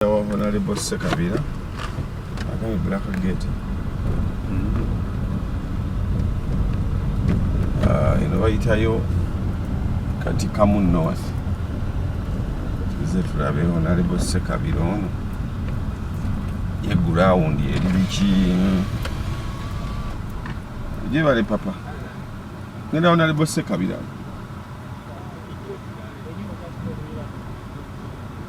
wa honalebo sekabira agambye black gate mm-hmm. ah, eno bayitayo kati kamu north tuze tulabe honalebo sekabira ono ye gurawundi eri biki gyebale papa ngenda honalebo sekabira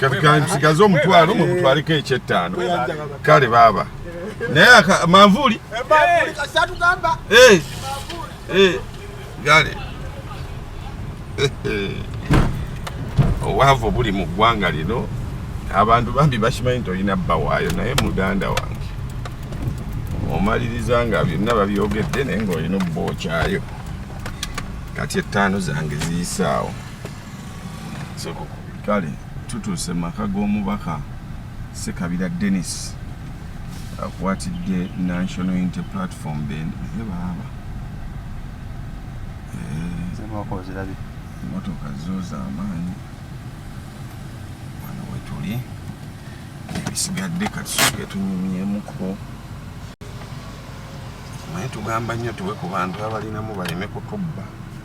kati kansigaze omutwalo mumutwaleko ekyettaano kale baaba naye manvuuli gale obwavu buli mu ggwanga lino abantu bambi bakimanyi nti olina bbawaayo naye muganda wange omaliriza nga byonna babyogedde naye ngaolina obbokyayo kati ettaano zange ziyisaawo kale tutuuse mu maka g'omubaka sekabira denis akwatidde national unity platform bebaaba eh, motoka zo zamaanyi wano wetuli ebisigadde katusuke tunyumyemuko naye tugamba nnyo tuwe ku bantu abalinamu baleme kutubba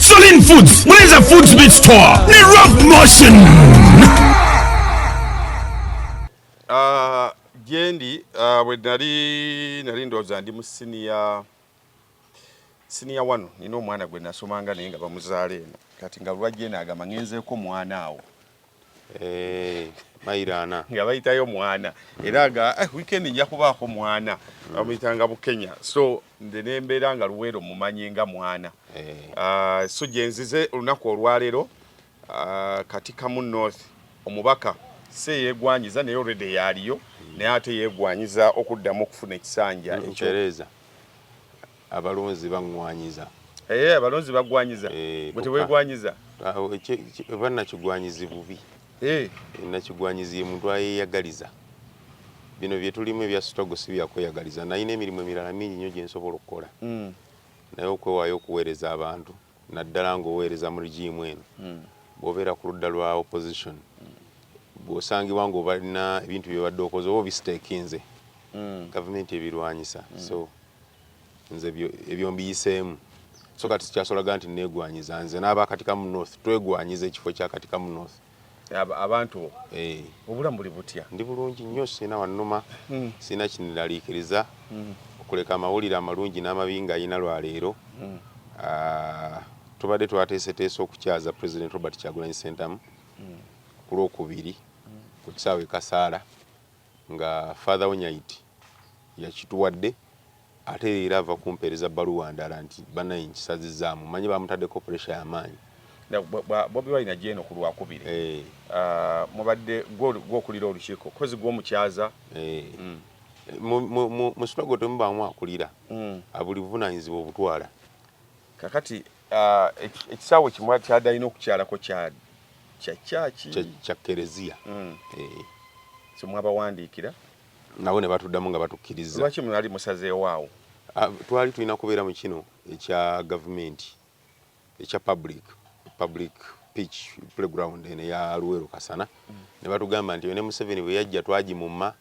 Solin Foods, Mwenza Foods Meat Store, ni Rough Motion. Uh, jendi uh, we nali nali ndoza ndi mu senior senior wano nina omwana gwe nasomanga naye nga bamuzaala eno kati nga lwajje naagamba ngenzeeko mwana awo Eh, mairana nga bayitayo mwana era nga eh, weekend nja kubaako mwana mm. bamuyitanga bukenya so nze nembeera nga luweero mumanyi nga mwana eh. ah, so gyenzize olunaku olwaleero ah, kati kamu north omubaka si eyegwanyiza naye olredi yaaliyo mm. naye ate yegwanyiza okuddamu okufuna ekisanja ekyo Abalonzi baŋŋwanyiza. Eeh, abalonzi baggwanyiza. Eeh, Gwe kyokka. teweegwanyiza. Awo ekyo ekyo- oba nakigwanyizi bubi. Eeh, Nakigwanyizi ye muntu ayeeyagaliza. Bino bye tulimu ebya struggle si bya kweyagaliza. Nalina emirimu emirala mingi nnyo gye nsobola okukola. mm, Naye okwewaayo okuweereza abantu naddala ng'oweereza mu rigiimu eno mm, bw'obeera ku ludda lwa opposition bw'osangibwa ng'obalina ebintu bye badde okoze oba obisiteekinze mm. gavumenti ebirwanyisa so nze ebyo mbiyiseemu so kati sikyasolaga nti negwanyiza nze n'aba katikamu north twegwanyiza ekifo kya katikamu north abantu bo eh. obulamu buli butya ndi bulungi nnyo sirina wannuma hmm. sirina kiniraliikiriza hmm. okuleka amawulire amalungi n'amabi nga yina lwaleero hmm. ah, tubadde twateeseteesa okukyaza president robert kyagulanyi sentamu ku lwokubiri ku kisaawe kasaala nga Father Onyaiti yakituwadde ate leero ava kumpeereza bbaluwa ndala nti banaye nkisazizaamu manyi bamutaddeko puresha yamaanyi bobi wine ajja eno ku lwakubiri eh. ah, mubadde gwokulira olukiiko kozi gwomukyaza eh. mm. mu sinago temubaamu akulira mm. abuli buvunanyizibwa obutwala kakati Ah, ekisaawe kimu kyadalina okukyalako kya kyaki kya kereziya mm. eh. kyemwabawandiikira nabo ne batuddamu nga batukkiriza lwaki mwali musazeewo awo ah, twali tulina kubeera mu kino ekya gavumenti ekya public public pitch playground eno eya luweero kasana mm. ne batugamba nti ne museveni bwe yajja twagimumma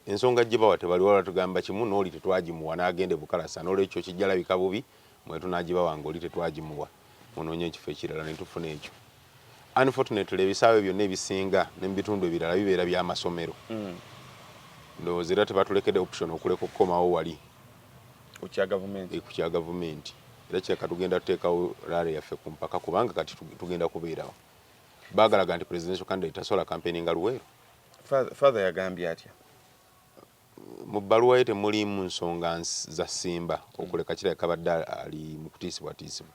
ensonga gye bawa tebali wala tugamba kimu n'oli tetwagimuwa n'agenda e bukalasa n'olwekyo kijja labika bubi mm. mwe tunagibawa nga oli tetwagimuwa munoonye ekifo ekirala ne tufuna ekyo unfortunately ebisaawe byonna ebisinga ne mu bitundu ebirala bibeera bya masomero hmm. ndowooza era tebatulekede option okuleka okukomawo wali ku kya gavumenti eh, era kireka tugenda tuteekawo laare yaffe ku mpaka kubanga kati tugenda kubeerawo baagalaga nti presidential candidate tasobola kampeni nga luweero father yagambye atya Mu bbaluwa ye temuliimu nsonga za Ssimba okuleka kirabika abadde ali mu kutiisibwatiisibwa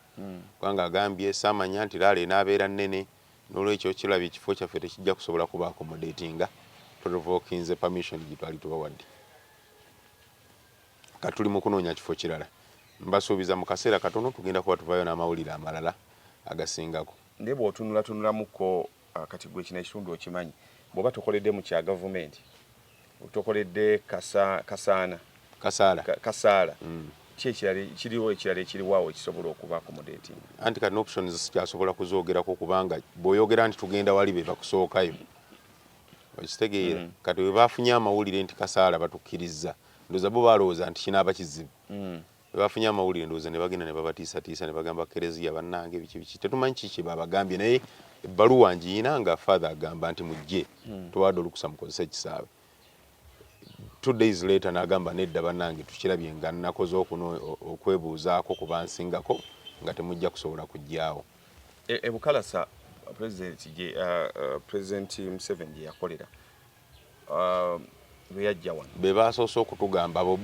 kubanga agambye, Ssaamanya nti laalo enaabeera nnene noolwekyo kirabye ekifo kyaffe tekijja kusobola kuba accommodatinga to revokinze permission gye twali tubawadde. Kati tuli mu kunoonya kifo kirala. Mbasuubiza mu kaseera katono tugenda kuba tuvaayo n'amawulire amalala agasingako. Naye bw'otunulatunulamuko Ah, kati gwe kino ekitundu okimanyi bwoba tokoledde mu kya gavumenti tokoledde kasa, kasaana kasaala ka, kasaala mm. ki ekirala kiriwo ekirala ekiriwaawo ekisobola okuba ku mudeeti anti kati options sikyasobola kuzoogerako kubanga bw'oyogera nti tugenda wali be bakusookayo okitegeera mm. kati we baafunye amawulire nti kasaala batukkirizza ndoza bo balowooza nti kinaaba kizibu mm. Bwe bafunye amawulire ndowooza ne bagenda ne babatiisatiisa ne bagamba Kereziya bannange biki biki tetumanyi kiki kye baabagambye naye ebbaluwa ngiyina nga father agamba nti mujje hmm. tubawadde olukusa mukozese ekisaawe two days later nagamba nedda banange tukirabye nga nakoze okuno okwebuuzaako ku bansingako nga temujja kusobola kujjaawo ebukalasa e, president uh, uh, museveni gyeyakolera uh, lweyajja wano be baasoose okutugamba abo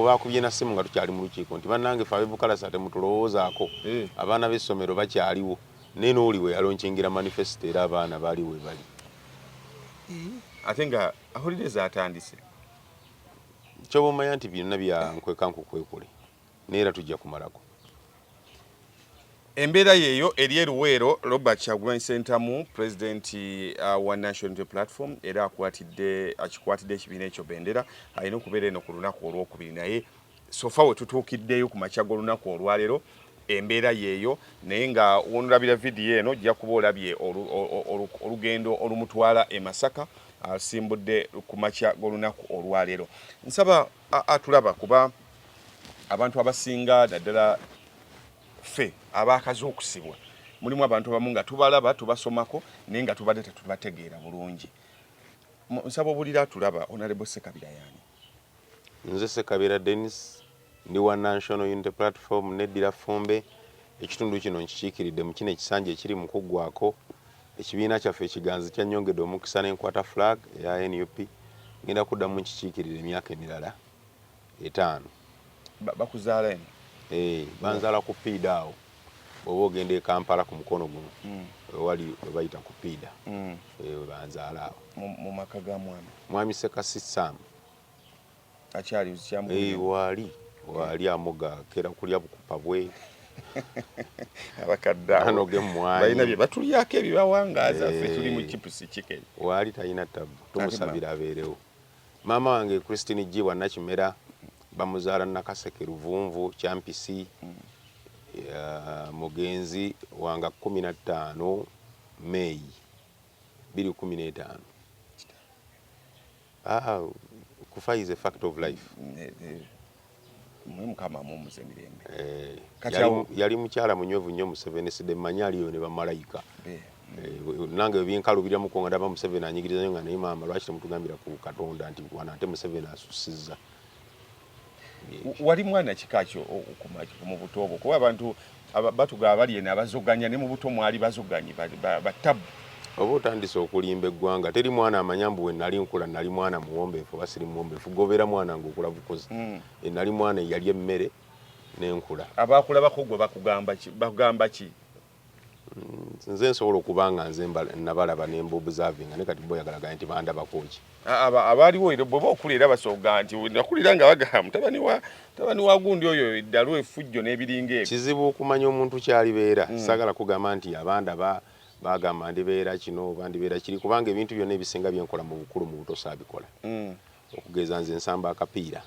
baakubye na ssimu nga tukyali mu lukiiko nti bannange fe abebukalasa temutulowoozaako eh. abaana b'essomero bakyaliwo naye nooli we yalonkingira manifesito era abaana baali we bali eh. ate nga ahulire zaatandise kyoba omanya nti byonna byankweka nkukwekule naye era tujja kumalako embeera yeeyo eri eruweero robert kyagulanyi sentamu pulezidenti uh, wa national unity platform era akwatidde akikwatidde ekibiina ekyo bendera alina okubeera eno ku lunaku olwokubiri naye sofa we tutuukiddeyo ku makya g'olunaku olwaleero embeera yeeyo naye nga wonolabira vidiyo eno ojja kuba olabye olugendo olumutwala e masaka asimbudde ku makya g'olunaku olwaleero nsaba Aa tulaba kuba abantu abasinga naddala ffe abaakaze okusibwa mulimu abantu abamu nga tubalaba tubasomako naye nga tubadde tetubategeera bulungi nsaba obulira tulaba onalebo sekabira yani nze sekabira denis ndi wa national unity platform neddira fumbe ekitundu kino nkikiikiridde mu kino ekisanja ekiri mu kuggwako Ekibiina kyaffe ekiganzi kyannyongedde omukisa ne nkwata flag eya nup. Ngenda kuddamu nkikiikirire emyaka emirala etaano. Bakuzaala eno? Ee, eh, banzaala ku piida awo bw'oba ogenda e Kampala ku mukono guno mm. wewali we bayita ku piida mm. eh, we banzaala awo mu maka ga mwami mwami Sekasi Sam. akyali uzikyambuulira eh, waali waali amoga kera kulya bukupa bwe abakadde abo balina bye batulyako ebibawangaaza ffe eh. tuli mu chipusi chicken waali talina ttabu tumusabira abeerewo maama wange christine jibwa nakimera bamuzaala nakaseke luvunvu kyampisi mm. mugenzi wanga kumi na ttaano meeyi biri kumi n'etaano Aa kufa is a fact of life. Mwe mukama amumuze mirembe. Eh, Kati yali, awo yali mukyala munywevu nnyo Museveni side manyi aliyo ne bamalayika. Eh, eh, nange ebinkalubira muko nga ndaba Museveni anyigiriza nnyo nga naye maama lwaki temutugambira ku Katonda nti wano ate Museveni asusizza. wali mwana kika kyo mu buto obwo kuba abantu batuga abali eno abazoganya ne mu buto mwali bazoganyi batabu oba otandise okulimba eggwanga teri mwana amanya mbu wenali nkula nali mwana muwombeefu oba siri muwombeefu gobeera mwana ngaokula bukuzi mm. enali mwana eyali emmere nenkula abakulabako gwe bakugamba ki nze nsobola okuba nga nze nabalaba ne mbobuzavinga ne kati boyagalagana nti bandabakoki abaaliwo era bweba okula era basoga nti nakulira nga bagala mutabani wa tabani wa gundi oyo eddalu efujjo n'ebiringa ebyo kizibu okumanya omuntu kyalibeera mm. sagala kugamba nti abanda ba bagamba ndibeera kino oba ndibeera kiri kubanga ebintu byonna ebisinga byenkola mu bukulu mu butosa abikola mm. okugeza nze nsamba akapiira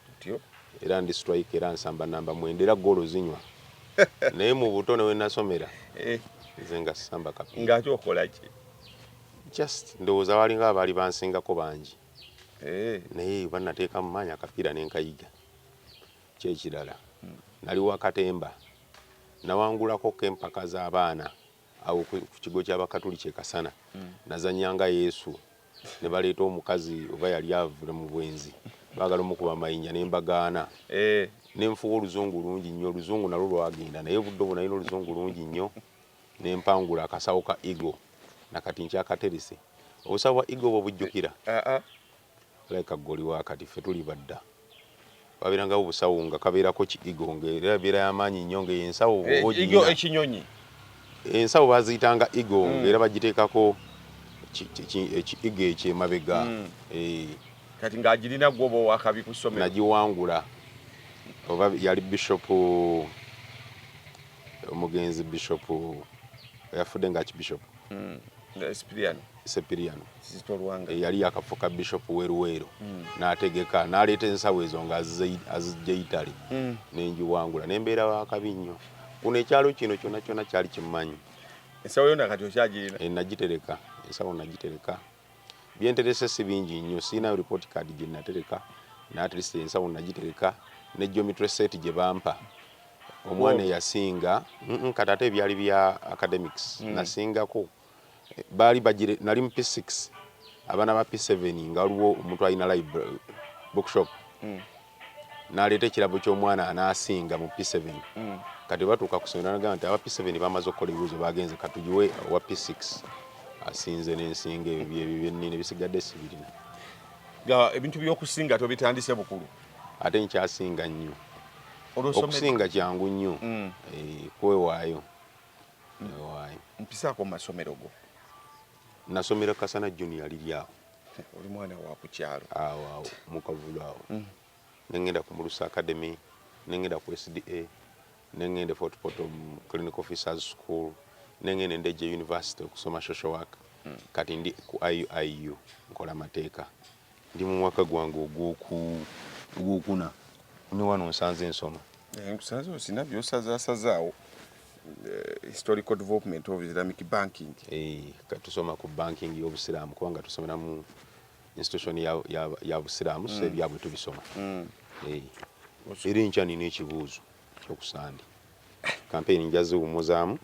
tutyo era ndi strike era nsamba namba mwenda era goolo zinywa naye mu buto ne wenasomera eh. nze nga samba kapi nga ate okola ki just ndowooza walinga abaali bansingako bangi eh. naye banateeka mu maanyi akapiira nenkayiga kyekirala hmm. nali wakatemba nawangulako kempaka z'abaana awo ku kigo ky'Abakatuliki e Kasana nazannya nga Yesu ne baleeta omukazi oba yali avule mu bwenzi baagala omukuba amayinja ne mbagaana eh. ne nfuwa oluzungu lungi nnyo oluzungu nalwo lwagenda naye obudde obwo nalina oluzungu lungi nnyo ne mpangula akasawo ka ego nakati nkyakaterese obusawo bwa ego bwo bujjukira ah, ah. Alabika ggwe oli wa kati, ffe tuli ba dda. Babeerangawo busawo nga kabeerako ki Eagle ng'era ebeera ya maanyi nnyo ng'eyo ensawo oba eh, ogirina. Ekinyonyi. Ensawo baaziyitanga Eagle mm. ng'era bagiteekako ekiigo ekyemabega mm. eh. kati ng'agirina gwoba owakabi ku ssomero. Nagiwangula oba yali bishopu omugenzi bishopu yafudde nga kibishopu. Mm. sepiriano eyali eh, yakafuka bishop weruweero hmm. n'ategeka n'aleeta ensawo ezo nga azijja itale hmm. nenjiwangula nembeera wakabi nnyo kuno ekyalo kino kyona kyona kyali kimanyi ensawo yona kati okyagirina eh, nagitereka ensawo nagitereka byenterese si bingi nnyo siina report card gyenatereka natlist ensawo nagitereka ne geometry set gye bampa omwana eyasinga kati ate ebyali bya academics mm. nasingako baali bagire nali mu p6 abaana ba p7 nga waliwo omuntu alina library bookshop mm. naleeta ekirabo ky'omwana anaasinga mu p7 mm. kati batuuka ku somero nagamba nti aba p7 bamaze okukola ebibuuzo bagenze katugiwe owa p6 asinze n'ensinga ebyo byebibinni ne bisigadde sibirina ebintu by'okusinga tobitandise bukulu ate nkyasinga nnyo okusinga kyangu nnyo mm. eh, kwewaayo newaayo mpisaako mu masomero go nasomera kasana junior liri awo oli mwana wakukyalo awo awo mukavulu awo mm. nengenda ku mulusa academy nengenda ku sda nengenda e fort potom clinic officers school nengenda endeje university okusoma social work mm. kati ndi ku iuiu nkola mateeka Ndi mu mwaka gwange ogwokuna ne wano nsanze nsoma. Eh, nkusanze osina byosazasazaawo eh, historical development of islamic banking eh, katusoma ku banking y'obusiraamu kubanga tusomera mu institution ya busiraamu so mm. ebyabwe tubisoma mm. eri nkya nina ekibuuzo kyokusande Kampeyini nja ziwummuzaamu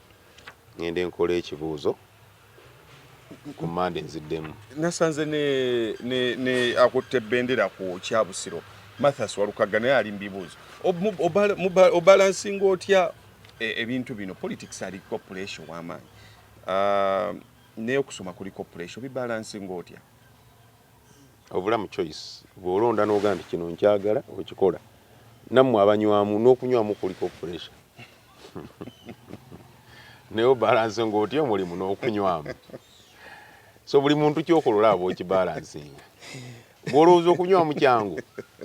ŋŋende nkole ekibuuzo ku Mmande nziddemu. Nasanze ne ne ne akutte bendera ku Kyabusiro Mathas Walukagga naye ali mu bibuuzo. Obalansinga otya e, ebintu bino? Politics aliko puleesha ow'amaanyi, ah, n'okusoma kuliko puleesha, obibalansinga otya? obulamu choice bwolonda noga nti kino nkyagala okikola nammwe abanywamu n'okunywamu kuliko puresha naye obalanse ngaotya omulimu n'okunywamu so buli muntu kyokola olaba okibalansinga bwolowooza okunywa mukyangu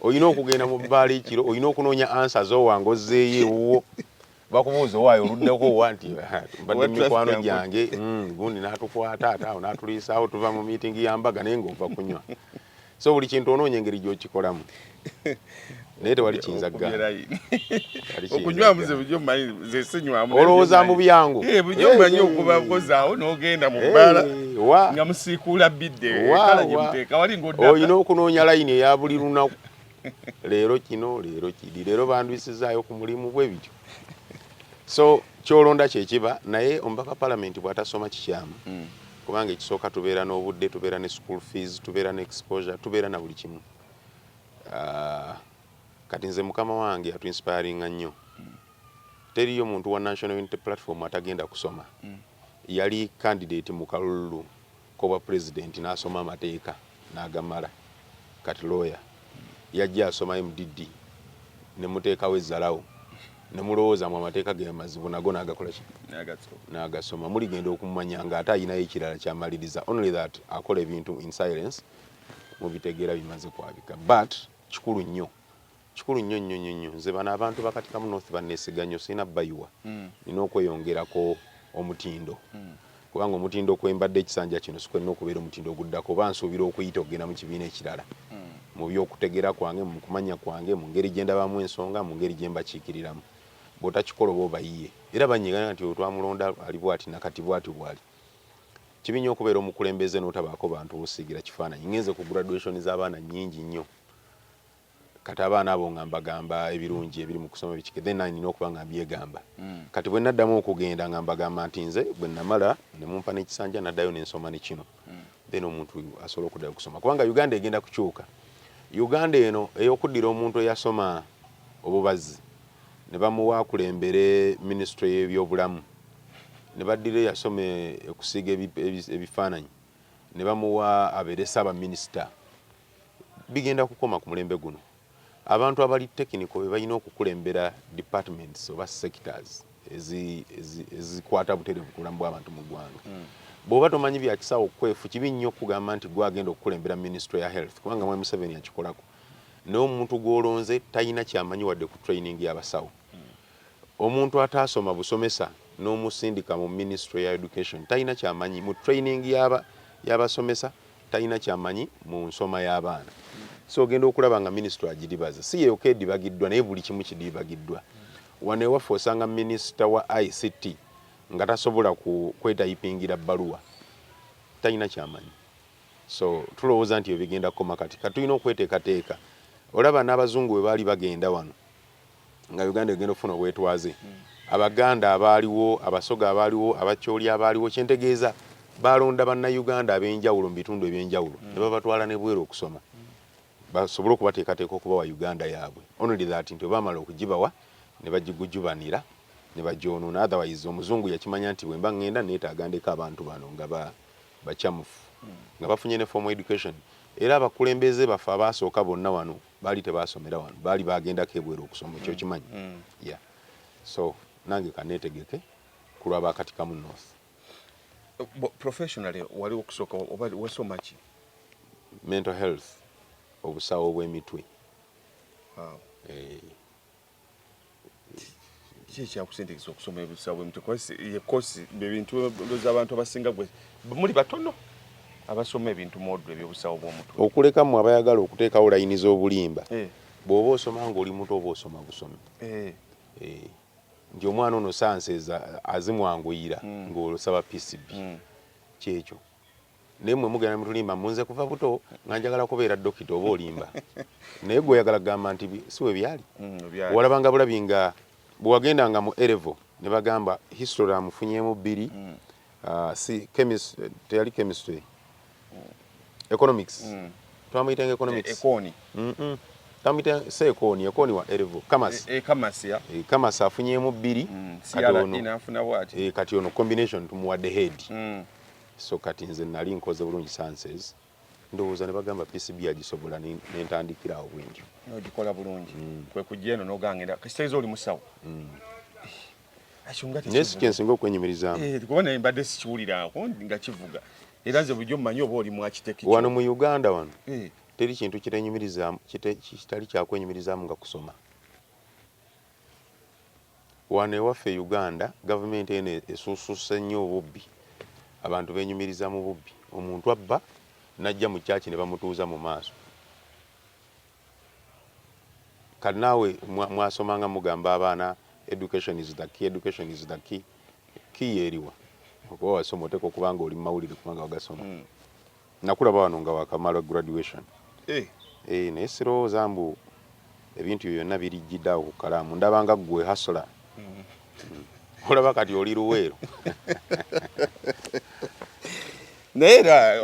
olina okugenda mu bbaala ekiro olina okunoonya ansa zowanga ozzeeyo ewuwo bakubuuza owaayo oluddeko owa nti mbadde mikwano gyange mm, gundi n'atukwata ate awo n'atuliisaawo tuva mu miitingi ya mbaga naye ng'ova kunywa so buli kintu onoonya engeri gy'okikolamu naye tewali kiyinza ggaolowooza mu byangu eh, bujomanyi eh, okuba eh. kozaawo n'ogenda mu bbaala nga musiikuula bidde olina okunoonya layini eya buli lunaku leero kino leero kidi leero bandwisizaayo ku mulimu bwe bityo so kyolonda kyekiba naye omubaka palamenti bwatasoma kikyamu mm. kubanga ekisooka tubeera n'obudde tubeera ne school fees tubeera ne exposure tubeera na buli kimu uh, kati nze mukama wange atuinspiringa nnyo mm. teriyo muntu wa national unity platform atagenda kusoma mm. yali candidate mu kalulu kobwa president nasoma amateeka nagamala kati lawyer yajja asoma MDD nemutekawo ezzalawo nemulowooza mu amateeka ge mazibu nago nagakola ki nagasoma muligenda okumanya nga ate ayinayo ekirala kyamaliriza only that akola ebintu in silence mubitegeera bimaze kwabika but kikulu nnyo Kikulu nnyo nnyo nnyo nnyo nze bano abantu ba Katikamu North banneesiga nnyo sirina bayiwa mm. nina okweyongerako omutindo mm. kubanga omutindo kwembadde ekisanja kino sikwenna okubeera omutindo oguddako oba nsuubira okuyita okugenda mu kibiina ekirala mm. mu by'okutegera kwange mu kumanya kwange mu ngeri gye ndabamu ensonga mu ngeri gye mbakiikiriramu bw'otakikola oba obayiye era banyegana nti otwamulonda ali bwati nakati bwati bwali kibi nnyo okubeera omukulembeze n'otabaako bantu busiigira kifaananyi ngenze ku graduation z'abaana nnyingi nnyo kati abaana abo nga mbagamba ebirungi ebiri mu kusoma biki then nina okuba nga mbyegamba mm. kati bwe naddamu okugenda nga mbagamba nti nze bwe namala ne mumpa n'ekisanja naddayo ne nsoma ne kino mm. then omuntu asobola okuddayo okusoma kubanga uganda egenda kukyuka uganda eno ey'okuddira omuntu eyasoma obubazzi ne bamuwa akulembere minisitule y'ebyobulamu ne baddira eyasoma okusiiga ebifaananyi ne bamuwa abeere ssaabaminisita bigenda kukoma ku mulembe guno. Abantu abali technical be balina okukulembera departments oba sectors ezikwata butereevu ku bulamu bw'abantu mu ggwanga. Hmm. Bw'oba tomanyi bya kisawo kwefu, kibi nnyo okugamba nti gwe agenda okukulembera minisitule ya health kubanga mwami Museveni akikolako. Naye omuntu gw'olonze talina kyamanyi wadde ku training y'abasawo. Hmm. Omuntu ataasoma busomesa n'omusindika mu minisitule ya education talina kyamanyi mu training y'abasomesa talina kyamanyi mu nsoma y'abaana so ogenda okulaba nga minisitule agiribaza si yeyoka edibagiddwa naye buli kimu kidibagiddwa wano ewaffe osanga minisita wa ict nga tasobola kwetayipingira bbaluwa talina kyamanyi so tulowooza nti ebigenda kukoma kati katulina okweteekateeka olaba n'abazungu bwe baali bagenda wano nga Uganda egenda okufuna obwetwaze Abaganda abaaliwo, Abasoga abaaliwo, Abachooli abaaliwo, kyentegeeza baalonda Bannayuganda ab'enjawulo mu bitundu eby'enjawulo mm. ne babatwala ne bweru okusoma mm. basobole okubateekateeka okubawa Uganda yaabwe only that nti obaamala okugibawa ne bagigujubanira ne bagyonoona otherwise omuzungu yakimanya nti bwemba ngenda neetaaga ndeka abantu bano nga bacamufu mm. nga bafunye ne formal education era abakulembeze baffe abaasooka bonna wano baali tebasomera wano baali bagendako ebweru okusoma ekyo kimanyi mm. yeah. so nange kanetegeke kulwa bakatikamu north professionally wali okusooka oba wasoma ki mental health obusawo bw'emitwe wow. hey. Eh. kiki ekyakusindikisa okusoma ebisawo bwe mutyo kosi ye kosi bye bintu ndoza abantu abasinga gwe muli batono abasoma ebintu modu ebyobusawo bw'omutwe okuleka mu abayagala okuteekawo layini z'obulimba eh. bw'oba osoma ng'oli muto oba osoma busomi eh. Eh. nti omwana ono sanseeza azimwanguyira hmm. ng'osaba pcb hmm. kyekyo naye mwe mugenda mutulimba munze kuva buto nga njagala kubeera dokita oba olimba naye gwe oyagala kugamba nti si we byali mm, walabanga bulabi nga bwewagendanga mu erevo ne bagamba history amufunyemu bbiri mm. ah, si chemist teyali chemistry mm. economics twamuyitanga economics tamita se ekoni ekoni wa erevo kamas e, e kamas ya e kamas afunyemu bbiri kati ono e kati ono combination tumuwadde head mm. so kati nze nali nkoze bulungi sanses ndowooza ne bagamba PCB agisobola ne ntandikira awo bwentyo nogikola bulungi mm. kwe kujja eno nogangenda kisitegeeza oli musawo mm. naye si kyensinga okwenyumirizamu eh, kuba naye mbadde sikiwuliraako nga kivuga era nze bulijjo mmanyi oba oli mwakiteki wano mu uganda wano eh. teri kintu kitenyumirizamu kitali kyakwenyumirizamu nga kusoma Wano ewaffe e Uganda gavumenti eno esuususse nnyo obubbi. Abantu benyumiriza mu bubbi. Omuntu abba najja mu church ne bamutuuza mu maaso. Kati naawe mwasoma nga mugamba abaana education is the key, education is the key. Key eriwa? Okuba wasoma oteekwa okuba nga oli mu mawulire kubanga wagasoma. Hmm. Nakulaba wano nga wakamala graduation. Eh. Eh, naye sirowooza mbu ebintu byo byonna birijjidde awo ku kalaamu ndabanga ggwe hasula mm. olaba kati oli luweero naye era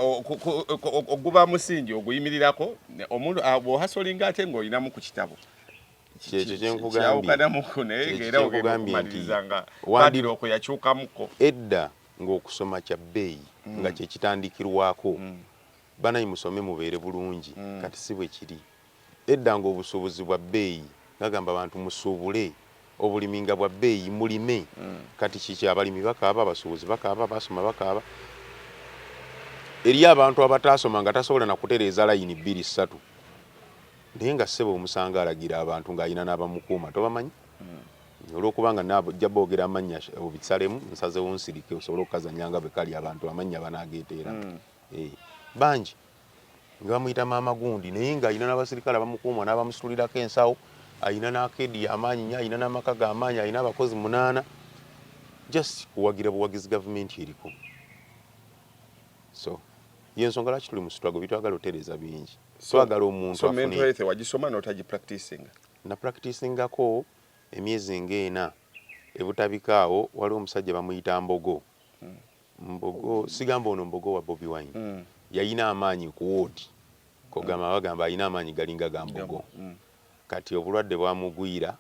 oguba musingi oguyimirirako omuntu ah, bwohasolinga ate ng'olinamu ku kitabo kyekyo kyenkugambye naye era ogenda okumaliriza nga badira okuyakyukamuko edda ng'okusoma kya bbeeyi mm. nga kye kitandikirwako mm. banayi musome mubeere bulungi mm. kati si bwe kiri edda ng'obusuubuzi bwa bbeeyi ngagamba abantu musuubule obulimi nga bwa bbeeyi mulime mm. kati kiki abalimi bakaaba abasuubuzi bakaaba basoma bakaaba eri abantu abataasoma nga tasobola na kutereeza layini bbiri ssatu naye nga ssebo omusanga alagira abantu ng'alina n'abamukuuma tobamanyi mm. olwokuba nga najja boogera amannya obisalemu nsazewo nsirike osobole okukazanya nga bwe kali abantu amannya banaageeteera hmm. eh, bangi nga bamuyita maama gundi naye ng'alina n'abasirikale abamukuuma n'abamusitulirako ensawo alina n'akeedi y'amaanyi nyo alina n'amaka g'amaanyi alina abakozi munaana just kuwagira buwagizi gavumenti eriko so yensonga lwaki tuli musitwago bitwagala otereeza bingi twagala omuntu so mental health wagisoma n'otagipractisinga na practicingako emyezi nga ena ebutabika awo waliwo omusajja bamuyita mbogo mbogo sigamba ono mbogo wa bobi wine mm. yayina amaanyi ku woodi kogamba mm. bagamba ayina amaanyi galinga ga mbogo mm. kati obulwadde bwamugwira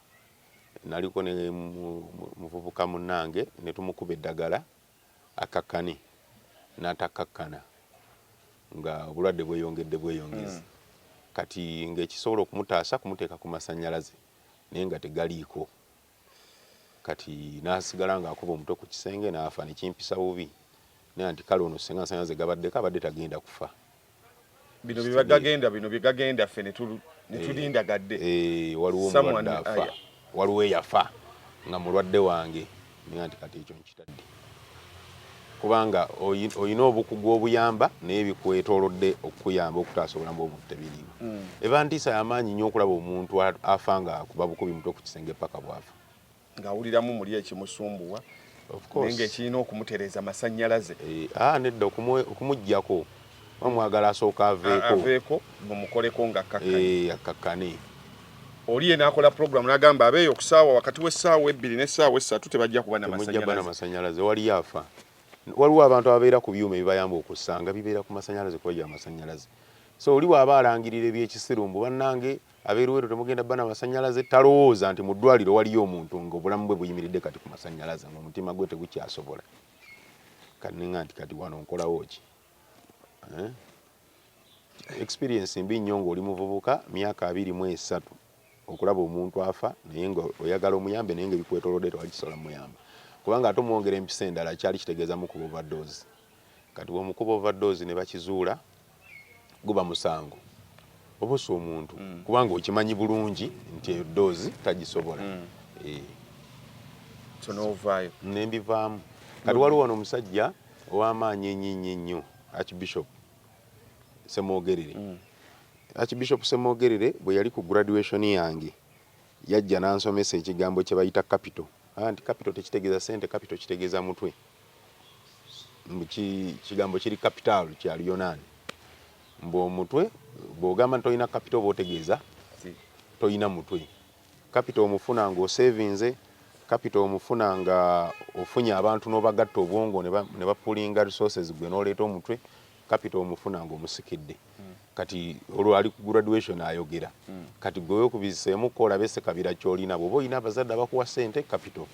naliko ne muvubuka munange netumukuba eddagala akakkane natakakkana nga obulwadde bweyongedde bweyongezi mm. kati ngaekisobola okumutaasa kumuteeka ku masanyalaze naye nga tegaliiko kati n'asigala ng'akuba omutwe ku kisenge n'afa ne kimpisa bubi naye nti kale ono ssenga nsanyaze gabaddeko abadde tagenda kufa bino byebagagenda bino byegagenda ffe netulindagadde eh, eh, waliwo mulwadde afa waliwo eyafa nga mulwadde wange Ninga nti kati ekyo nkitadde kubanga olina obukugu obuyamba naye bikwetolodde okukuyamba okutaasa obulamu bw'omuntu tebiriimu mm. eba ntiisa yamaanyi nnyo okulaba omuntu afa nga akuba bukubi mutwe ku kisenge paka bwafa ng'awuliramu muli ekimusumbuwa naye ng'ekirina okumutereeza masannyalaze eh, ah, nedda okumugyako mwagala asooka aveeko aveeko mumukoleko nga kakkane eh, kakkane oli yena akola program nagamba abeeyo okusaawa wakati w'essaawa ebbiri n'essaawa essatu tebajja kuba namasanyalaze waliyo afa waliwo abantu ababeera ku byuma ebibayamba okusanga bibeera ku masanyalaze kuba gya masanyalaze so oli bw'aba alangirira ebyekisiru mbu bannange abeeruweeru temugenda bana masanyalaze talowooza nti mu ddwaliro waliyo omuntu nga obulamu bwe buyimiridde kati ku masanyalaze ngaomutima gwe tegukyasobola kaninga nti kati wano nkolawo ki eh? experience mbi nnyo ng'oli muvubuka myaka abiri mu esatu okulaba omuntu afa naye nga oyagala omuyambe naye nga ebikwetolodde tewakisobola muyamba kubanga ate omwongera empisa endala kyali kitegeeza mukuba overdose kati bwomukuba overdose ne bakizuula guba musango obusa omuntu mm. kubanga okimanyi bulungi nti eyo doozi tagisobola mm. eh. kyonoovayo nembivaamu kati waliwo wano omusajja Ow'amaanyi ennyo ennyo ennyo, Archbishop Ssemwogerere. Archbishop Ssemwogerere bwe yali ku graduation yange, yajja n'ansomesa ekigambo kye bayita kapito. N'agamba nti, Kapito tekitegeeza ssente, kapito kitegeeza mutwe. Mbu ki, ekigambo kiri kapitaalu, kya Luyonaani. Mbu omutwe, bw'ogamba nti tolina kapito oba otegeeza tolina mutwe. Kapito omufuna ng'oseevinze, kapito omufuna nga ofunye abantu n'obagatta obwongo ne bapulinga resources gwe n'oleeta omutwe, kapito omufuna ng'omusikidde. Hmm. Kati olwo ali ku graduation ayogera. Hmm. Kati gwe weekubiziseemukko olabe ssekabira ky'olina. Bw'oba olina abazadde abakuwa ssente, kapito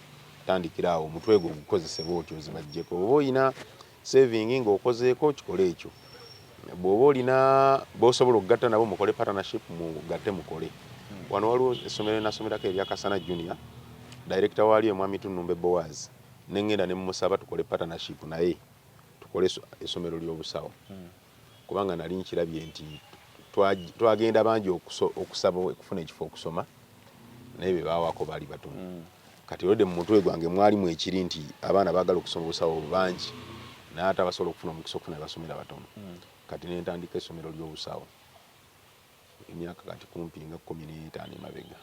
tandikira awo omutwe gwo gukozese bw'otyo ozibaggyeko. Bw'oba olina Saving nga okozeeko kikole ekyo. Bwoba olina bosobola okugatta nabo mukole partnership mugatte mukole. Wano waliwo essomero lyenasomerako erya Kasana Junior, director waalyo Mwami Tunumbe Boaz nengenda nemusaba tukole partnership naye tukole esomero lyobusawo. kubanga nali nkirabye nti twagenda bangi okusaba okufuna ekifo okusoma naye bebawako baali batono mm. kati olode mu mutwe gwange mwalimu ekiri nti abaana bagala okusoma obusawo bangi naye ate abasobola okufuna omukisa okufuna ebasomera batono mm. kati nentandika essomero ly'obusawo emyaka kati kumpi nga kumi n'etaano emabega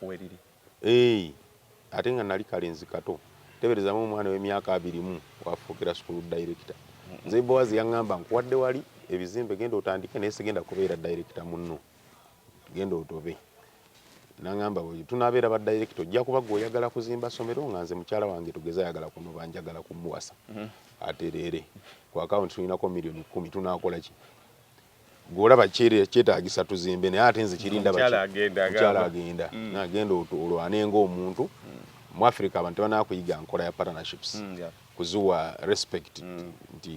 weriri eeyi ate nga nali kale nzikato teberezamu omwana wemyaka abirimu wafuukira school director nze boaz yangamba nkuwadde wali ebizimbe genda otandike naye sigenda kubeera director munno genda otobe nangamba tunabeera ba director ojja kuba gwe oyagala kuzimba somero nga nze mukyala wange tugeze ayagala kunoba njagala kumuwasa mm-hmm. atereere ku account tulinako million kumi tunakola ki gwe olaba kyetaagisa tuzimbe naye ate nze kiri ndaba mukyala agenda mm. nagenda olwane ng'omuntu mm. mu africa abantu tebanakuyiga nkola ya partnerships mm, kuziwa respect nti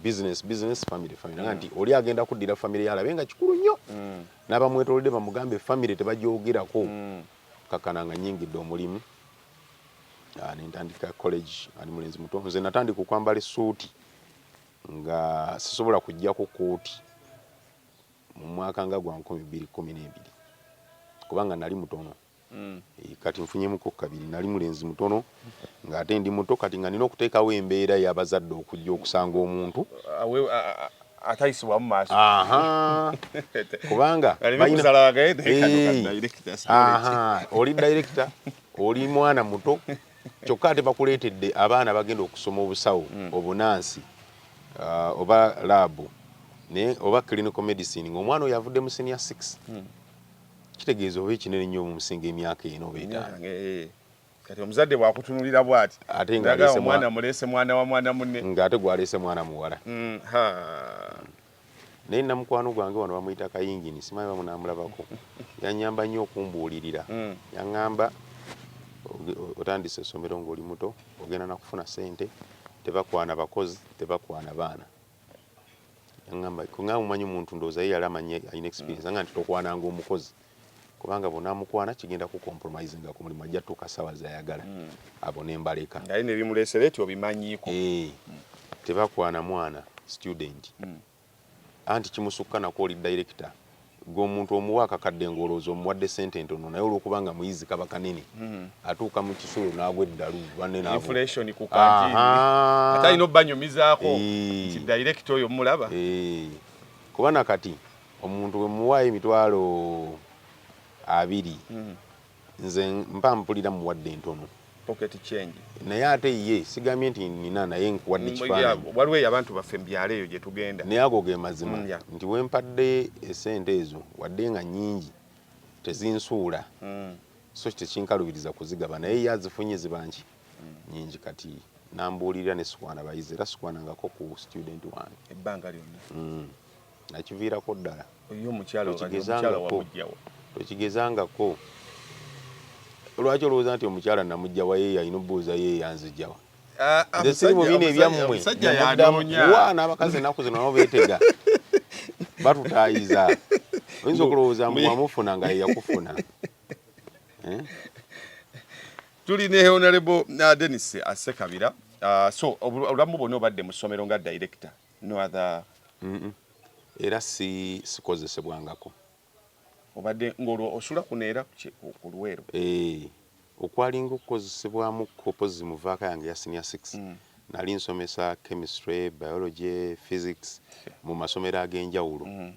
business business family family nga nti oli agenda kuddira family yalabe nga kikulu nnyo n'abamwetolodde bamugambe family tebagyogerako kakana nga nyingidde omulimu ah, nentandika college ali mulenzi muto nze natandika okwambala esuuti nga sisobola kujja ku kooti mu mwaka nga gwa nkumi bbiri kumi n'ebiri kubanga nali mutono mm. eh, kati nfunyemuko kabiri nali mulenzi mutono nga ate ndi muto kati nga nina okuteekawo embeera yabazadde okujja okusanga omuntu atayisibwamu maaso kubanga oli dayirekita oli mwana muto kyokka ate bakuleetedde abaana bagenda okusoma obusawo hmm. obunaansi uh, oba laabu naye oba clinical medicine ngaomwana oyo avudde mu senior six hmm. kitegeeza oba ekinene nnyo mumusinga emyaka eno oba etaano eh. kati omuzadde bwakutunulira bwati ate ngaomwana mulese mwana wa mwana munne ngaate gwalese mwana muwala hmm, naye nina mukwano gwange wano bamuyita kayingini simanyi bamunamulabako yanyamba nnyo okumbuulirira hmm. yaŋŋamba otandise essomero ng'oli muto ogenda nakufuna sente tebakwana bakozi tebakwana baana yaŋŋamba nga mumanyi omuntu ndowooza ye yali amanyi alina experience hmm. nga nti tokwananga omukozi kubanga bwonamukwana kigenda ku compromisinga ku mulimu ajja tuuka sawa zayagala mm. abo nembaleka naye nebimulesera eti obimanyiko e, mm. tebakwana mwana student mm. anti kimusukka nako oli director gwe omuntu omuwa akakadde ngolooza omuwadde sente ntono naye olwokuba nga muyizi kaba kanene mm-hmm. atuuka mu kisulo n'agwa eddalu bannenaatayina obanyumizaako nti director oyo mulaba kuba nakati Omuntu bwe mmuwaayo emitwalo abiri nze mpa mpulira mmuwadde ntono. Pocket change. Naye ate ye sigambye nti nina naye nkuwadde kifaananyi. Mm, waliwo abantu baffe mu byalo eyo gye tugenda. Naye ago ge mazima mm, nti we mpadde essente ezo wadde nga nnyingi tezinsuula mm. so tekinkalubiriza kuzigaba naye ye azifunye ziba nki nyingi kati nambuulirira ne sikwana bayizi era sikwanangako ku student wange ebbanga lyonna nakiviirako ddala tokigezangako lwaki olowooza nti omukyala namujja waye yalina obuuza ye yanzijawa ah, ah, nze siri mu bino ebyammwe wa n'abakazi ennaku zino nabo beetega batutaayiza oyinza okulowooza mbu wamufuna nga yeyakufuna eh? tuli ne honorable uh, denis asekabira uh, so obulamu bwona obadde mu ssomero nga director no other mm -mm. era si sikozesebwangako obadde ng'olwo osula kuno era ku luweero eh, okwalinga okukozesebwamu kopo zimuvaaka yange ya senior six mm. nali nsomesa chemistry biology physics mu masomero ag'enjawulo mm.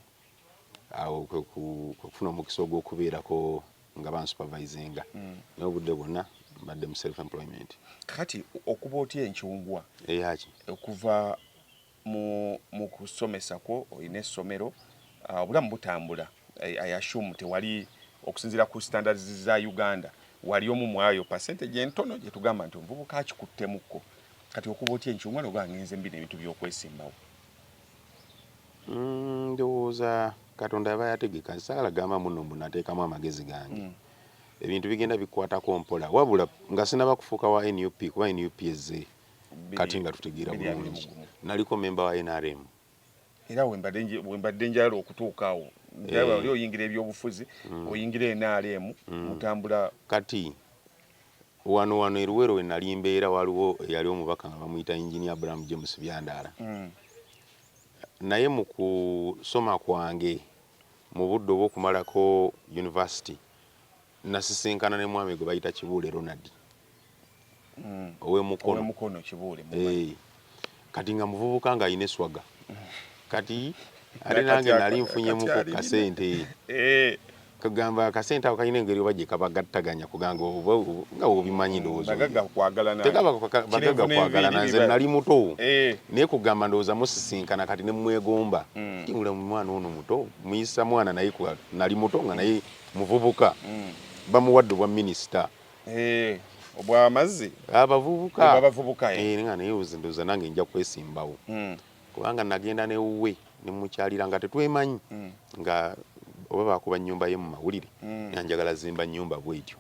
awo kwekufuna omukisa ogwokubeerako nga bansupervisinga mm. naye obudde bwonna mbadde mu self employment kati okuba otya enkyungwa eyaki okuva mu kusomesa kwo olina essomero ah, obulamu butambula i assume tewali okusinzira ku standards za uganda wali omu mwayo percentage entono gyetugamba nti omuvubuka akikuttemukko kati okuba otya enkyungwa noba ngenze mbina ebintu byokwesimbawo Mm, ndowooza katonda aba yategeka saala gamba muno mbu nateekamu amagezi gange mm. ebintu bigenda bikwatako mpola wabula nga sinaba kufuuka wa nup kuba nup ezze kati nga tutegeera bulungi naliko memba wa nrm era wembadde njala okutuuka awo eh. oli oyingira ebyobufuzi mm. oyingira nrm mm. mutambula kati Wano wano e Luwero we nali mbeera waliwo eyali omubaka nga bamuyita Engineer Abraham James Byandaala mm. naye mu kusoma kwange mu budde obw'okumalako university nasisinkana ne mwami gwe bayita Kibuule Ronald mm. ow'e Mukono eh. kati nga muvubuka nga alina eswaga kati ate nange nali nfunyemuko kasente eh. kagamba akasente ako kalina engeri oba gyekabagattaganya kuganga nga obimanyi mm, ndowoozategabagaga kwagalana nze nali muto eh. naye kugamba ndowooza musisinkana kati nemwegomba mm. tingula mwana ono muto muyisa mwana naye nali muto nga naye muvubuka mm. bamuwadde obwa minisita Eh, obwamazzi abavubuka abavubuka eh. eh, nga naye ndoza nange nja kwesimbawo mm. kubanga nagenda newuwe nemukyalira nga tetwemanyi mm. nga oba bakuba nyumba ye mu mawulire mm. nanjagala zimba nyumba bwetyo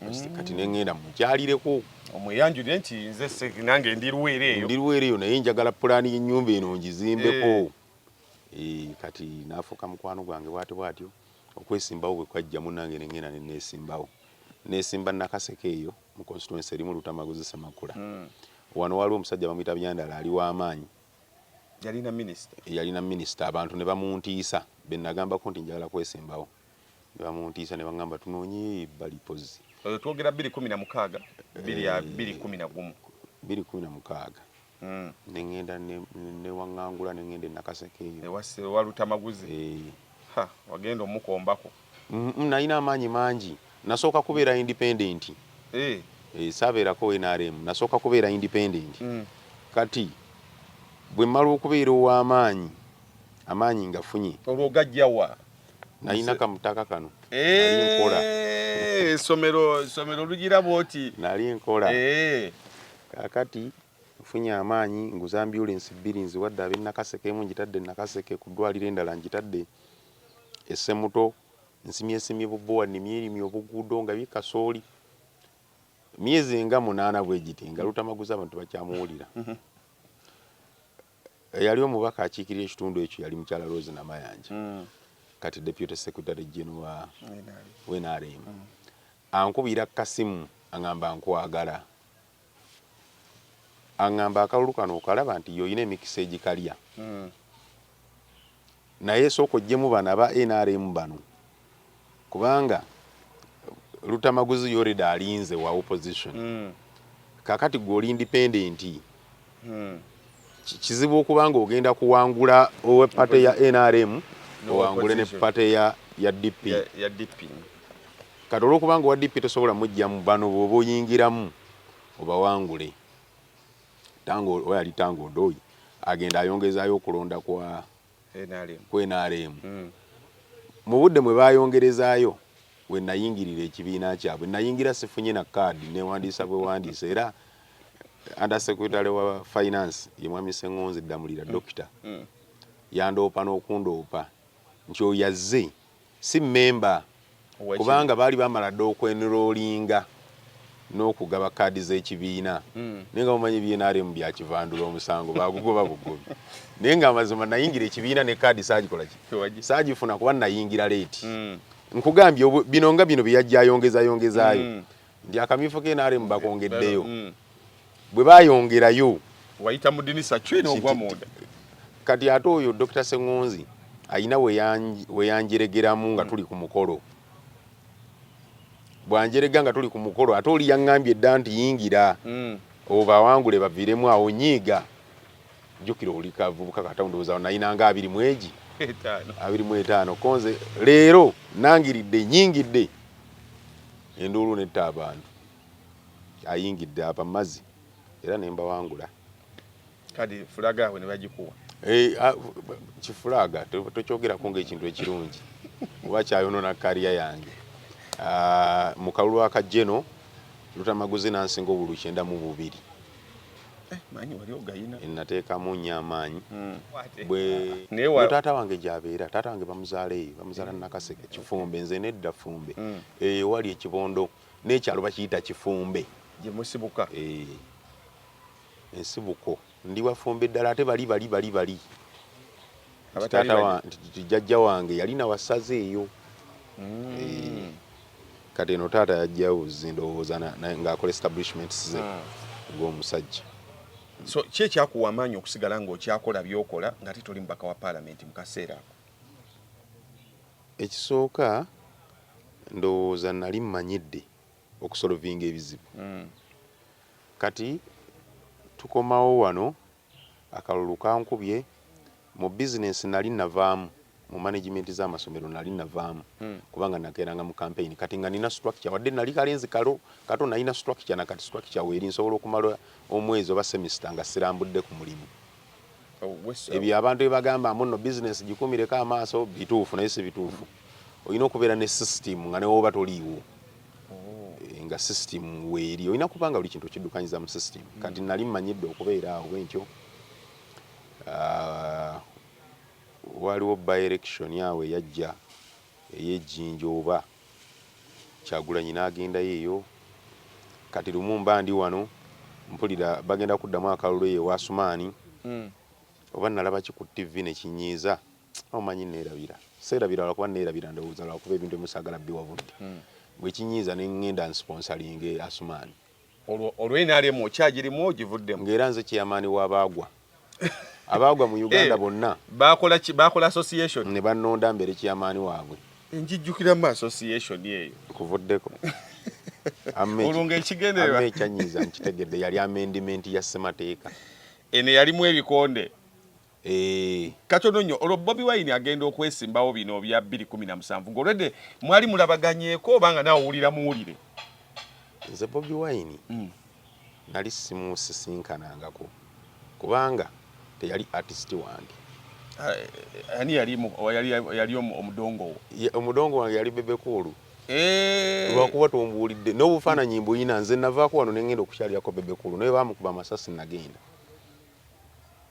mm. kati nengenda mukyalireko omweyanjulire nti nze nange ndi luweere eyo ndi luweere eyo naye njagala pulaani y'ennyumba eno ngizimbeko eh. Eh, kati naafuuka mukwano gwange bwati bwatyo Okwesimbawo bwe kwajja munnange ne ngenda ne neesimbawo. Neesimba Nakaseke eyo mu constituency erimu Lutamaguzi Ssemakula. Hmm. Wano waliwo omusajja bamuyita Byandala ali wa maanyi. Yalina minisita. Yalina minisita abantu ne bamuntiisa be nagambako nti njagala kwesimbawo. Ne bamuntiisa ne bangamba tunoonyeyo ebbali pozzi. Oyo twogera bbiri kumi na mukaaga, bbiri eh, kumi na gumu. Bbiri kumi na mukaaga. mm. nengenda newangangula nengenda enakaseke eyo ewa lutamaguzi eh. wagenda omukombako mm, mm, nalina amaanyi mangi nasooka kubeera independent eh. eh, sabeerako nrm nasooka kubeera independent mm. kati bwe mmala okubeera ow'amaanyi amaanyi ngafunye olwo gajjawa nalina kamutaka kano nkola eh, esomero esomero lugira bwoti nali nkola eh. kakati nfunye amaanyi nguza ambulensi bbiri nziwadde ab'e nakaseke emu ngitadde e nakaseke ku ddwaliro endala ngitadde essemuto nsimyesimye bubowa nimyerimye obuguudo nga bikasooli myezi nga munaana bwe giti nga lutamaguza abantu bakyamuwulira mhm. eyali omubaka akiikirira ekitundu ekyo yali mukyala Rose Namayanja mm. kati deputy secretary general wa NRM mm. ankubira kasimu angamba nkwagala angamba akalulu kano okalaba nti yoyina emikisa egikalya mm. Naye sooka ojjemu bano aba nrm bano kubanga Lutamaguzi yoreda alinze wa opposition mm. kakati gwe oli independent mm. kizibu okuba nga ogenda kuwangula owe pate ya nrm owangule ne pate ya, ya dp ya, ya dp kati olwokuba nga owa dp tosobola mujjamu bano bwoba oyingiramu obawangule Tango oba yali Tango Ndoyi agenda ayongezaayo okulonda kwa ku NRM mm. mu budde mwe baayongerezaayo we nayingirira ekibiina kyabwe nayingira sifunye na kaadi newandiisa bwewandiisa era under secretary wa finance ye mwami Seng'onzi Ddamulira mm. dokita mm. yandoopa n'okundoopa nti oyo azze si mmemba kubanga baali baamala dda okwenroolinga n'okugaba kkaadi z'ekibiina naye nga mumanyi bnrm bya kivandula omusango baagugoba bugobi naye ng'amazima nayingira ekibiina ne kkaadi saagikola ki saagifuna kuba nayingira leeti nkugambye bino nga bino bye yajja ayongezayongezaayo ndi akamyufu ke nrm bakongeddeyo mm. bwe bayongerayo wayita mu dinisa kyina ogwa munda kati ate oyo dr sengonzi ayina weyanjeregeramu nga mm. tuli ku mukolo bwanjerega nga tuli ku mukolo ate oli yaŋŋambye dda nti yingira mm. obawangule baviremu awo nyiiga jjukira oli kavubuka katawo ndowooza nayinanga abiri mwegi abiri mu etaano konze leero nangiridde nyingidde Enduulu netta abantu. Ayingidde aba mazi era ne mbawangula. Kadi fulaga awe ne bagikuwa. Eh, ah, kifulaga tokyogerako ngaekintu ekirungi oba kyayonona kariya yange ah, mu kalulu akajeno lutamaguzi nansinga obulu kyenda mu bubiri Eh, manyi wali ogayina nateekamu nnyo amaanyi hmm. bwe taata wange gyabeera taata wange bamuzaala eyo bamuzaala hmm. nakaseke kifumbe nze nedda fumbe hmm. eyo wali ekibondo n'ekyalo bakiyita kifumbe gyemusibuka eh, ensibuko ndi wafumbe ddala ate bali bali bali bali nti jajja wange yali nawasaze eyo mm. eh, kati eno taata yajjawo zindowooza ngaakola establishments ze mm. ng'omusajja so ki ekyakuwa amaanyi okusigala ng'okyakola byokola nga te toli mubaka wa paalamenti mu kaseera ako ekisooka ndowooza nali mmanyidde okusolovinga ebizibu mm. kati tukomawo wano Akalulu kankubye mu bizinensi nali navaamu, mu manegimenti z'amasomero nali navaamu kubanga nakeeranga mu kampeyini kati nga nina situlakikya wadde nali kalenzi kalo kato nalina situlakikya na kati situlakikya weeri nsobola okumala omwezi oba semisita nga sirambudde ku mulimu. Ebyo abantu bye bagamba mbu nno bizinensi gikuumireko amaaso bituufu naye si bituufu. Olina okubeera ne sisitiimu nga ne w'oba toliiwo. nga system weeri olina kubanga buli kintu okiddukanyiza mu system mm. kati nali mmanyidde okubeera awo bwentyo ah, waliwo by-election awo eyajja eyejjinja oba kyagulanyi n'agendayo eyo kati lumu mba ndi wano mpulira bagenda kuddamu akalulu eyo ewasumaani mm. oba nalabaki ku ttivi nekinyiiza omanyi neerabira seerabira lwakuba neerabira ndowooza lwakuba ebintu emusaagala biwabudde hmm. bwekinyiiza ne ngenda nsiponsalinge asumaani olwo nrm okyagirimu ogivuddemu ngaera nze kyeyamaani wabaagwa abaagwa mu uganda eh, bonna bakola association ne bannonda mbeere kyeyamaani waabwe enjijjukiramu association eyo nkuvuddeko olunga ekigendererwa ekyanyiiza nkitegedde yali amendimenti ya ssemateeka eno yalimu ebikonde Eh. katono nnyo olwo bobi wine agenda okwesimbawo bino bya 217 ngaolwedde mwali mulabaganyeeko oba nga nawe owulira muwulire nze bobi wine mm. nali simusisinkanangako kubanga teyali artist wange eh, ani yali omudongowo omudongo wange yali bebekuulu eh. lwakuba tombuulidde n'obufaananyi mbuyina nze navaako wano nengenda okukyalirako bebekuulu naye bamukuba amasasi nagenda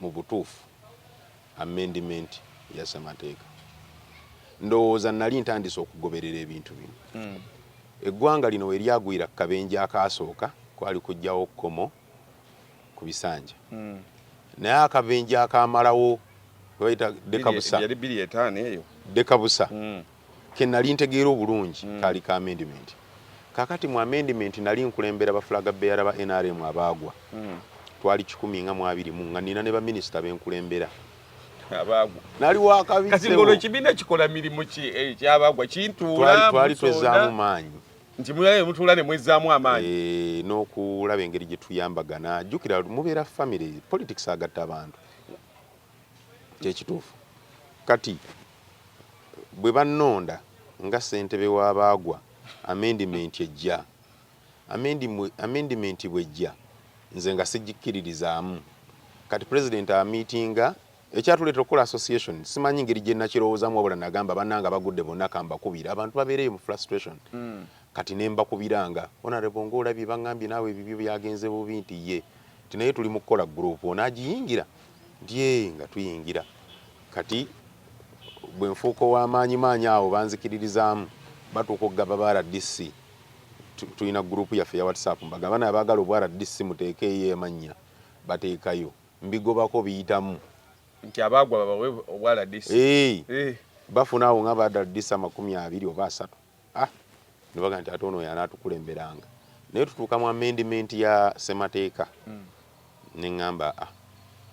mubutuufu amendment ya ssemateeka ndowooza nali ntandise okugoberera ebintu bino mm. eggwanga lino weryagwira kukabenje akaasooka kwali kujjawo kkomo ku bisanja mm. naye akabenje akamalawo dekabusa dekabusa mm. ke nali ntegeera obulungi mm. kaali ka amendment kakati mu amendment nali nkulembera bafulaga beyara ba nrm abaagwa mm. twali kikumi nga mwabiri mu nga nina ne baminisita benkulembera abaagwa nali wakabisolo ekibiina kikola mirimu ki ekyabagwa eh, kintuula twali twezaamu maanyi nti mulabe mutuula ne mwezzaamu amaanyi eh, n'okulaba engeri gye tuyambagana jjukira mubeera famire politics agatta abantu Kyekituufu kati bwebanonda nga ssentebe w'abaagwa amendimenti ejja, amendimenti bwejja nze nga sigikkiririzaamu kati pulezidenti amiitinga ekyatuleetera okukola association simanyi ngeri gye nakirowoozaamu wabula nagamba bannange abagudde bonna ka mbakubire abantu babeereyo mu frustration mm. kati ne mbakubiranga honorable ng'olabye bangambye naawe ebibyo byagenze bubi nti ye nti naye tuli mu kukola guruupu onaagiyingira Ndyee nga tuyingira kati bwe nfuuka ow'amaanyi maanyi awo banzikiririzaamu batuuka okugaba ba rdc tulina guruupu yaffe ya whatsapp mbaga abana abaagala obwa rdc muteekeeyo amannya bateekayo mbigobako biyitamu nti abaagwa babawe obwa rdc hey, hey. bafuna awo nga ba rdc amakumi abiri oba asatu ah nebaga nti ate ono yanaatukulemberanga naye tutuuka mu amendment ya ssemateeka hmm. ne ŋŋamba ah,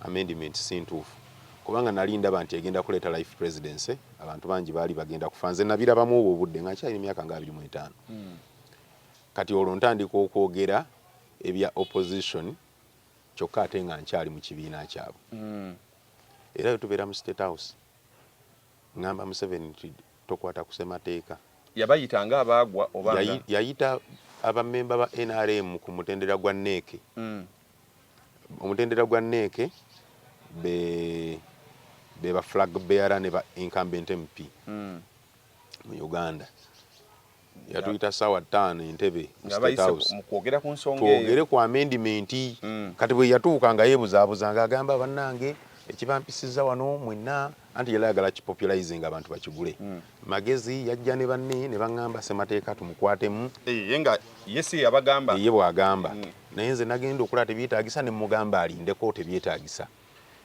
amendment si ntuufu kubanga nali ndaba nti egenda kuleeta life presidency abantu bangi baali bagenda kufa nze nabirabamu obwo obudde nga nkyalina emyaka nga abiri mu etaano hmm. kati olwo ntandika okwogera ebya opposition kyokka ate nga nkyali mu kibiina kyabwe hmm. era yo tubeera mu state house ŋŋamba museveni nti Tokwata ku Ssemateeka. Yabayita nga abaagwa oba nga. Yayi, yayita abamemba ba nrm ku mutendera gwa NEC. Mm. Omutendera gwa NEC be be ba flag bearer ne ba incumbent MP mm. mu Uganda. yatuyita saawa ttaano entebe mukwogera ku nsonga twogere ku amendimenti mm. kati bwe yatuuka nga yeebuzaabuza nga agamba bannange ekibampisiza wano mwenna anti yali ayagala kipopulizing abantu bakigule mm. magezi yajja ne banne ne baŋŋamba ssemateeka tumukwatemu ye nga yesi yabagamba ye bw'agamba mm. naye nze nagenda okulaba tebyetaagisa ne mugamba alindeko tebyetaagisa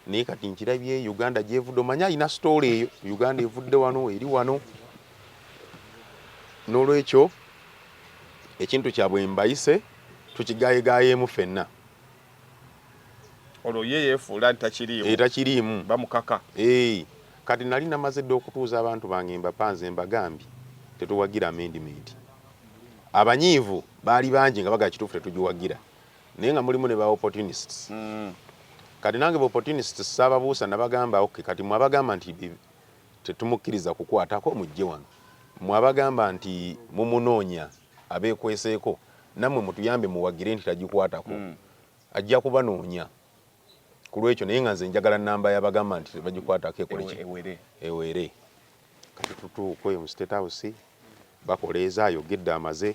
naye kati nkirabye uganda gyevudde omanye alina sitoola eyo uganda evudde wano eri wano n'olwekyo ekintu kyabwe mbayise tukigayegayeemu fenna olwo ye yefuula ntakiriimu etakiriimu eh, bamukaka eh, kati nali namaze dda okutuuza abantu bange mbapanze mbagambye tetuwagira amendimenti abanyiivu baali bangi nga bagala kituufu tetugiwagira naye nga mulimu ne ba opportunists mm. kati nange ba opportunists sababuusa nabagamba ok kati mwabagamba nti tetumukkiriza kukwatako mujje wano mwabagamba nti mumunoonya abeekweseeko nammwe mutuyambe muwagire nti tagikwatako mm. ajja kubanoonya ku lwekyo naye nga nze njagala namba yabagamba nti tebagikwatako ekoleki eweere kati tutuuka oyo mu state house bakoleeza ayogedde amaze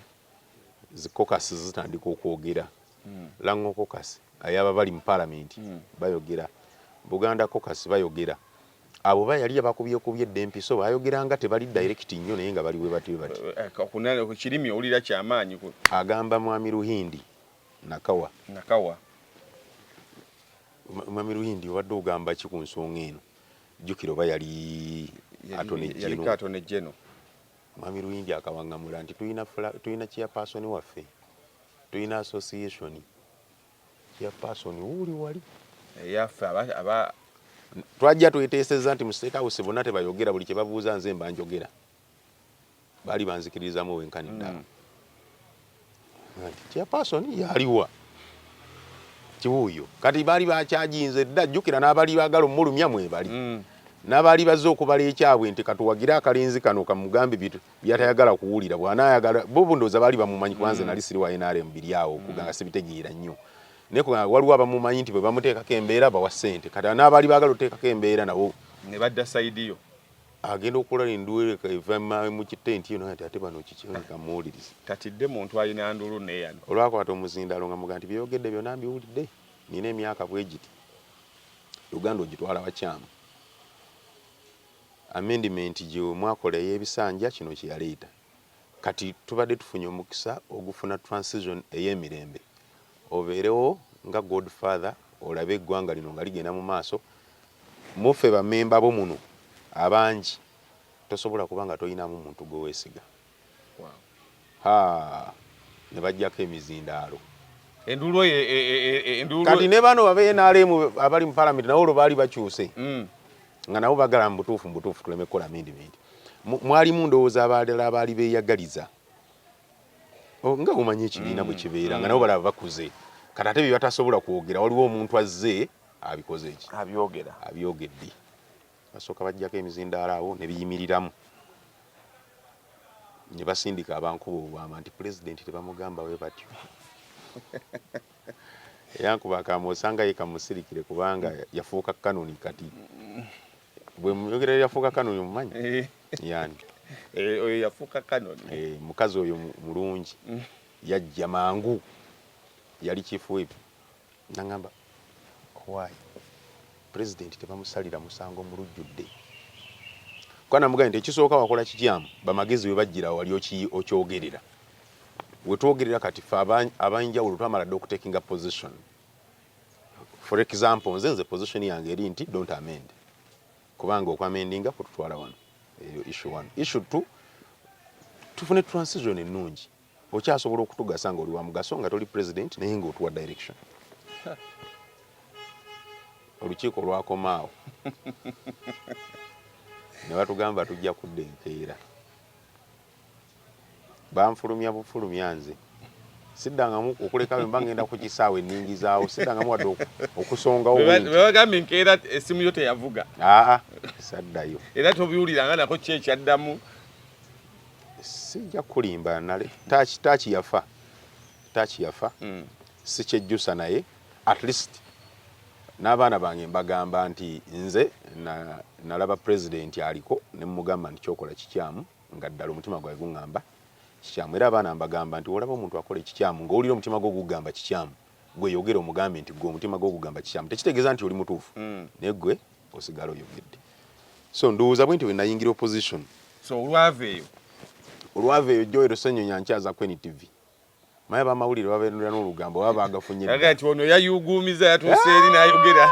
zi caucus zitandika okwogera mm. lango caucus ayaba bali mu parliament mm. bayogera buganda caucus bayogera abo bayali abakubyekubye dda empiso bayogera nga tebali direct nnyo naye nga bali bwe batyo bati eh, eh, ku kirimi owulira kyamaanyi agamba mwami ruhindi nakawa nakawa mwami ruhindi obadde ogamba ki ku nsonga eno jjukira oba yali atone jeno Mwami Luyingi akawangamula nti tulina tulina chairperson waffe tulina association chairperson wuuli wali eyaffe eh, aba twajja tweteeseza nti mu state house bonna tebayogera buli kye babuuza nze mba njogera baali banzikirizamu wenkani ddala mm. chairperson yaliwa kiwuyo kati baali bakyajinze dda jjukira n'abali bagala omulumya mwebali mm. n'abaali bazze okubala ekyabwe nti katuwagire akalenzi kano kamugambe byatayagala kuwulira bwanayagala bo bundooza baali bamumanyi kubanze mm. nali siri wa nrm biri awo okuganga mm. sibitegeera nnyo naye kubanga waliwo abamumanyi nti bwe bamuteekako embeera bawa ssente kati n'abaali baagala oteekako embeera nabo ne badda sayidiyo agenda okulala enduulu eva mu kitenti eyo nati ate bano kikirabika muwuliriza tatidde muntu alina ndulu neyano olwakwata omuzindaalo nga muga nti byeyogedde byona mbiwulidde nina emyaka bwegiti uganda ogitwala wakyamu amendiment gyemwakola eyebisanja kino kyeyaleeta kati tubadde tufunye omukisa ogufuna transition eyemirembe Obeerewo nga God father olabe eggwanga lino nga ligenda mu maaso. Mu ffe ba member bo muno abangi tosobola kuba nga toyinaamu muntu gwe wesiga. Haa ne bajjako emizindaalo. Enduulu eyo e, e, e, e, enduulu. Kati ne bano babe NRM abali mu parliament nawo olwo baali bakyuse. Mm. Nga nabo bagala mu butuufu mu butuufu tuleme kukola amendment. Mwalimu ndowooza abalala abaali beeyagaliza. oh, nga omanyi ekibiina mm. bwe kibeera nga nabo balaba bakuze kati ate byebatasobola kwogera waliwo omuntu azze abikoze eki abyogera abyogedde basooka bajjako emizindaalo awo ne biyimiriramu ne basindika abankuba obwama nti pulezidenti tebamugamba we batyo eyankuba akaama osanga ye kamusirikire kubanga yafuuka kanoni kati Gwe muyogera yafuuka kano oyo mumanyi? Eh. Yani. Eh, oyo yafuuka kano. Eh, mukazi oyo mulungi. Mm. Yajja mangu. Yali chief whip. Nangamba why? President tebamusalira musango mu lujjudde. Kwa namugambye nti ekisooka wakola kikyamu bamagezi we bajjira wali okyogerera. We twogerera kati fe abanjawulo twamala dda okutekinga position. for example nze nze position yange eri nti don't amend kubanga okwamendinga kututwala wano eyo issue one issue two tufune transition ennungi okyasobola okutugasa nga oli wa mugaso nga toli president naye nga otuwa direction olukiiko lwakomaawo ne batugamba tujja kudda enkeera Banfulumya bufulumya nze siddangamu okulekawo emba ngenda ku kisaawe ningizaawo siddangamu wadde okusongawo webagambye nkeera essimu yo teyavuga aa saddayo era tobiwuliranga nako ki ekyaddamu sijja kulimba nale taaki taaki yafa taaki yafa hmm. sikyejjusa naye at least n'abaana bange mbagamba nti nze nalaba pulezidenti aliko ne mugamba nti kyokola kikyamu nga ddala omutima gwange guŋŋamba kikyamu. Era abaana mbagamba nti w'olaba omuntu akola ekikyamu, ng'owulira omutima gwo gukugamba kikyamu, ggwe yogera omugambe nti, Ggwe omutima gwo gukugamba kikyamu. Tekitegeeza nti oli mutuufu, hmm. naye ggwe osigala oyogedde. So ndowooza bwentyo bwe nayingira opposition. So olwava eyo? Olwava eyo Joel Ssenyonyi ankyaza ku NTV. Maya bamawulire babeerera n'olugambo baba baagafunye. Aga nti ono yayuuguumiza yatuuse eri n'ayogera.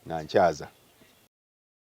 Nankyaza.